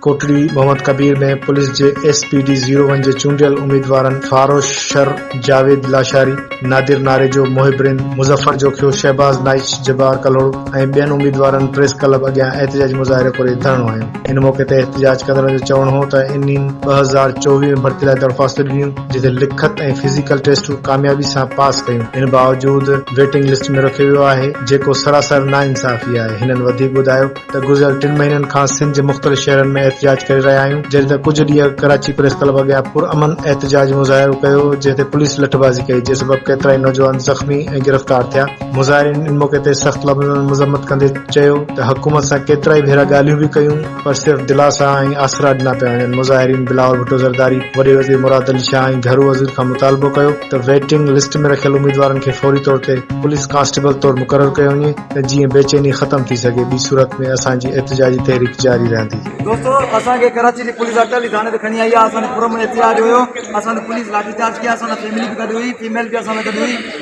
Kotri Muhammad Kabir ۾ police جي S P D zero one جي چونڊيل اميدوارن فاروش شر جاويد لاشاري نادر ناريجو محب رند مظفر جوکيو شهباز نائچ جبار ڪلهوڙو ۽ ٻين اميدوارن پريس ڪلب اڳيان احتجاجي مظاهرو ڪري ڌرڻو هنيو ان موقعي تي احتجاج ڪندڙن جو چوڻ هو ته انهن ٻه هزار چوويهه ۾ ڀرتي لاء درخواستون ڏنيون جتي لکت ۽ فزيڪل ٽيسٽون ڪاميابي سان پاس ڪيون، ان باوجود ويٽنگ لسٽ ۾ رکيو ويو آهي، جيڪو سراسر ناانصافي آهي، هنن وڌيڪ ٻڌايو ته گذريل ٽن مهينن کان سنڌ جي مختلف شهرن ۾ احتجاج ڪري رهيا آهيون، جڏهن ته ڪجهه ڏينهن اڳ ڪراچي پريس ڪلب اڳيان پرامن احتجاج مظاهرو ڪيو هو، جنهن تي پوليس لٺبازي ڪئي، جنهن سبب ڪيترائي نوجوان زخمي ۽ گرفتار ٿيا، مظاهرين ان موقعي تي سخت لفظن ۾ مذمت ڪندي چيو ته حڪومت سان ڪيترائي ڀيرا ڳالهيون به ڪيون، پر صرف دلاسا ۽ آسرا ڏنا پيا وڃن، مظاهرين بلاول ڀٽو زرداري، وڏي وزير مراد علي شاهه ۽ گهرو وزير کان مطالبو ڪيو ته ويٽنگ لسٽ ۾ رکيل اميدوارن کي فوري طور تي پوليس ڪانسٽيبل طور مقرر ڪيو وڃي ته جيئن بي چيني ختم ٿي سگهي ٻي صورت ۾ اسان جي احتجاجي تحريڪ جاري رهندي. دوستو اسان کي ڪراچي جي پوليس اٽالي ٿاڻي تي کڻي آئي آ اسان تي پرامن احتجاج هيو اسان تي پوليس لاٺي چارج ڪيا اسان سان فيملي به گڏ هئي فيميل به اسان سان گڏ هئي.